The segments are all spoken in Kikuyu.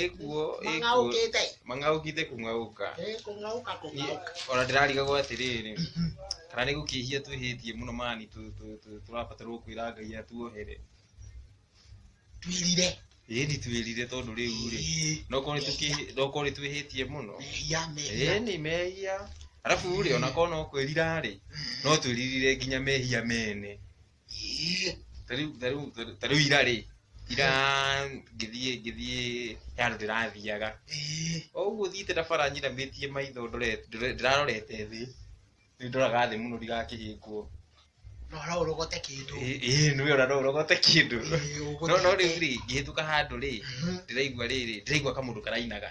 ĩkuo mang'aũkĩte mang'aũkite kũng'aũka Eh, kũng'aũka kũng'aũka ona ndĩrarigagwo atĩrĩrĩ kana nĩ gũkĩhia twĩhĩtie mũno mani tũ- tũ- tũ- tũrabatarwo kwĩra ngai atuohere twirire ĩni twĩrire tondũ rĩu rĩ nokorwo nĩ tũkĩhĩ- nokorwo nĩ twĩhĩtie mũno mehia mehia ĩni mehia arabu rĩ ona korwo no kwĩrira rĩ no twĩririre nginya mehia mene Tarĩu tarĩu tarĩu ira rĩ, ira ngĩthiĩ ngĩthiĩ he handũ ndĩrathiaga. O ũguo thiĩte na bara nyiramĩtie maitho ndorete ndore- ndĩrarorete thĩ. Nĩ ndoraga thĩ mũno ndigakĩhĩngwo. No no ũrogote kĩndũ. Ĩ ĩ nĩ wĩra no ũrogote kĩndũ. Ĩ, ũgũthiĩ No no rĩu atĩa? rĩ, ngĩhĩtũka handũ rĩ, Mhm. ndĩraigua rĩrĩ, ndĩraigua kamũndũ karainaga.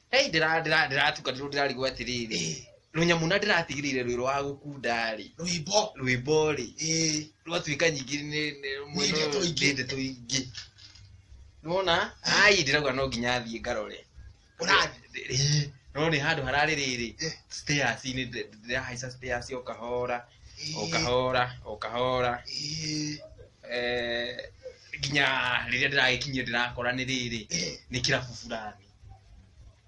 Hei, ndĩra- ndĩra- ndĩratukanirwo ndĩrarigwo atĩrĩrĩ Ĩĩ, rũnyamũ na ndĩratigĩrĩire rwĩrũ wa gũkunda-rĩ rwĩmbo rwĩmbo-rĩ Ĩĩ, rwatuĩka nyingĩ nĩ- nĩ- mwena Nĩ ndeto ũyũ ingĩ. nĩ ndeto ingĩ nĩwona ai ndĩrauga no nginya thiĩ ngarore ũrathi Ĩĩ, no nĩ handũ hararĩ rĩrĩ Eh. stairs-inĩ ndĩ- ndĩrahaica stairs o kahora o Ĩĩ, kahora o kahora ĩĩ, Eh, nginya rĩrĩa ndĩragĩkinyia ndĩrakora nĩ rĩrĩ ĩĩ, nĩ kĩrabu fulani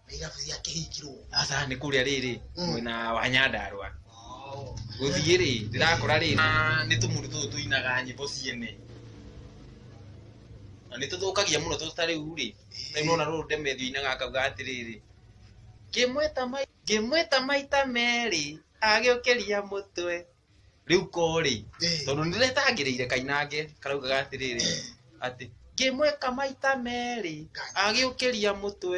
na irabu cia kĩhingirwo aca nĩ kũrĩa rĩrĩ Mm. mwena wa nyandarwa gũthiĩ rĩ ndĩrakora rĩ na nĩ tũmũndũ tũtũ tũinaga nyĩmbo ciene na nĩ tũthũkagia mũno tũtũ ta rĩu rĩ rĩu nona rũrũ ndemethi inaga akauga atĩrĩrĩ ngĩmwĩta mai- ngĩmwĩta maita merĩ agĩũkĩria mũtwe riu korĩ tondũ nĩ ndĩretangĩrĩire kainange karaugaga atĩrĩrĩ atĩ ngĩmwĩka maita merĩ agĩũkĩria mũtwe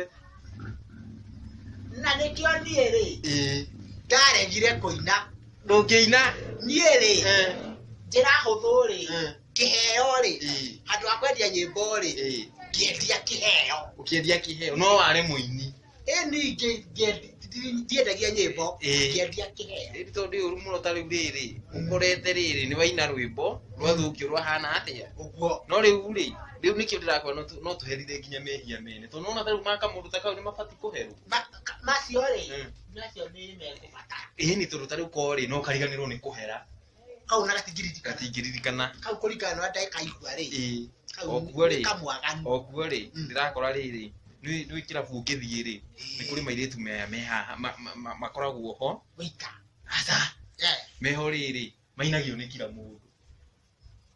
na nĩkĩo niĩ rĩ ĩĩ ndaregire kũina ndũngĩina niĩ rĩ eh, njĩra hũthũ rĩ eh, kĩheo rĩ ĩĩ, handũ ha kwendia nyĩmbo rĩ ĩĩ. ngĩendia kĩheo ũkĩendia kĩheo no ware mũini ĩni ingĩ ngĩendi- ndi- ndiendagia nyĩmbo Ĩĩ. ngĩendia kĩheo Rĩrĩ tondũ ũru mũno ta rĩu rĩrĩ ũkorete rĩrĩ nĩ waina rwĩmbo rwathũkio rwahana atĩa ũguo no rĩu rĩ rĩu nĩkĩo ndĩrakora no tũ- no tũherithie nginya mehia mene tondũ nona ta rĩu maka mũndũ ta kau nĩ mabatiĩ kũherwo Ma- ka- macio rĩ Mm. macio nĩ mekũbatara ĩni tondũ ta rĩu korĩ no kariganĩrwo nĩ kũhera kau na gatingĩririkana gatingĩririkana kau kũringana na ndeka igua rĩ ĩĩ kau Okuo rĩ. nĩ kamwaganu okuo rĩ Mm. ndĩrakora rĩrĩ nĩ nĩ kĩrabu ũngĩthiĩ rĩ nĩ kũrĩ mairĩtu me- me haha ma- ma- ma- makoragwo ho wĩika aca Eh. meho rĩrĩ mainagio nĩ kira mũndũ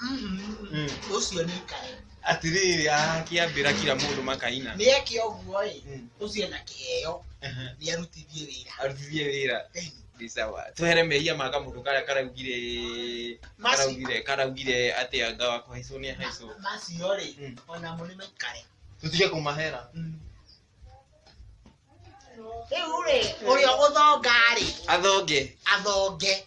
Mm. ucio ni kae atiriri akiambira kira mundu makaina ni eke uguo i Mm. ucio na kiheo Aha. ni arutithie wira arutithie wira Ĩĩ. ni sawa twehere mehia ma kamundu karia karaugire Maci- karaugire karaugire ati anga wa kuhaicwo ni ahaicwo macio ri Mm. ona mo ni maikare tutige kumahera riu ri uria guthonga ri athonge athonge